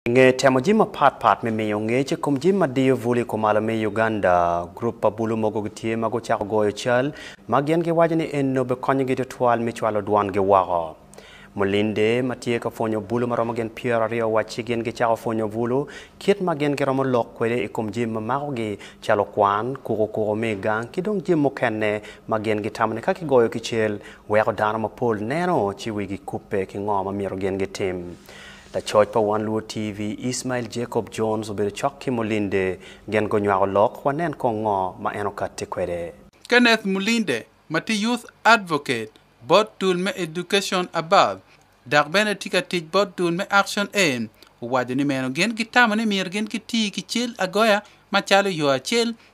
I nge temo jami mapat pat me miyo ngec i kom jami ma diyo bul i kumalo me Uganda, gurup pa bulu mogo gitye ma gucako goyo cal ma gin giwaco ni enno bikonyogi tutwal me cwalo dwongi woko. Mulinde ma tye ka pwonyo bulu ma romo gin pyero aryo owacci gin gicako pwonyo bulu kit ma gin giromo lok kwede i kom jami ma makogi calo kwan, kuko kuko me i gang ki dong jami mukene ma gin gitamo ni ka kigoyo ki cal weko dano mapol neno ci wigi kubbe ki ngo ma myero gin gitim. Lacoc pa Wan Luo TV, Ismail Jacob Jones obedo cok ki Mulinde, gin gunywako lok, wanen kong ngo ma en okatte kwede. Kenneth Mulinde ma tye Youth Advocate bot dul me Education Above dok bene tye ka tic bot dul me Action Aim owaco ni meno gin gitamo ni myero gin giti ki cal agoya macalo yo acel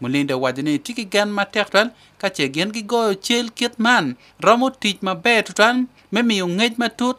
Mulinda owaco ni tye ki gen matek tutwal ka ce gin gigoyo cal kit man romo tic maber tutwal me miyo ngec matut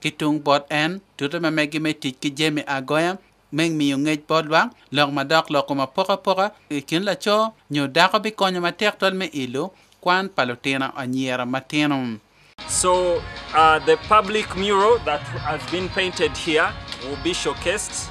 ki tung bot en, tute ma megi me tic ki jami agoya me miyo ngec bot lwak, lok madok, lok kom apokapoka i kin laco nyo dako bikonyo matek twal me ilo kwan pa lutino anyira matino. So, the public mural that has been painted here will be showcased.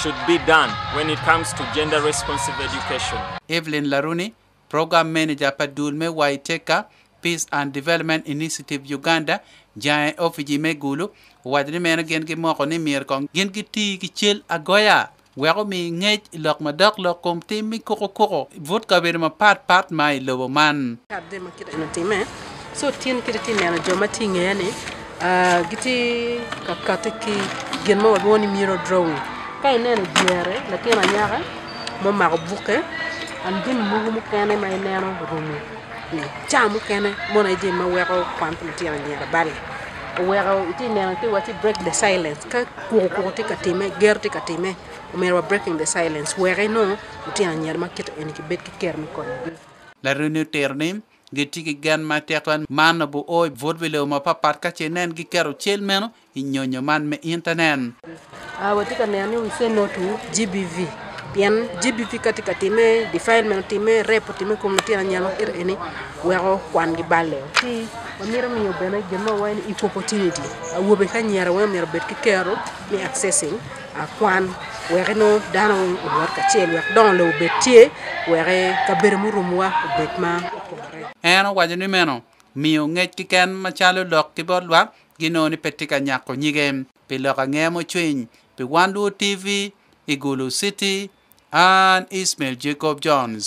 should be done when it comes to gender responsive education. Evelyn Laruni, Program Manager pa dul me Waiteka Peace and Development Initiative Uganda, Jae Ofiji me Gulu, owaco ni meno gin gimoko ni myero kong gin giti ki cal agoya wek omi ngec lok madok lok kom tim me kukukuku but kabedo mapat pat ma i lobo man. Ci otin kiti ti neno jo ma ti i ngeya ni giti ka kati ki gin ma walwongo ni mirror drawing. Ka ineno i dyere latin anyaka ma omako bukke and jami mogo mukene ma ineno orumo i ca mukene mono aye jami ma weko kwan pa litino anyira bali. Oweko iti neno ti wacci break the silence ka kuku kuku ti ka timme, ger ti ka timme omyero wa breaking the silence weki nongo litino anyira ma kiti eni kibed ki ker me konyogi. Laremi otero ni, gitye ki gen ma tekla man obio i but me lobo mapatpat ka ce nen giketo cal meno i nyonyo man me Intanet. Watye ka neno ni we say no to GBV pien GBV ka tye ka timme defilement otimme, rape otimme i kom lutino anyira ma kite eni weko kwangi balle o. Ci wamito miyo bene gin ma wawaco ni equal opportunity awobe ki anyira weng omyero obed ki kero me accessing. akwan wek inongo dano owot kacel wek dongo lobo obed tye wek kabedo murumowa obed ma opore. En owaco ni meno miyo ngec kiken macalo lok ki bot lwak ginongo ni pe tye ka nyako nyige. Pi lok angeya mucwiny pi Wan Luo TV i Gulu City, an Ismail Jacob Jones.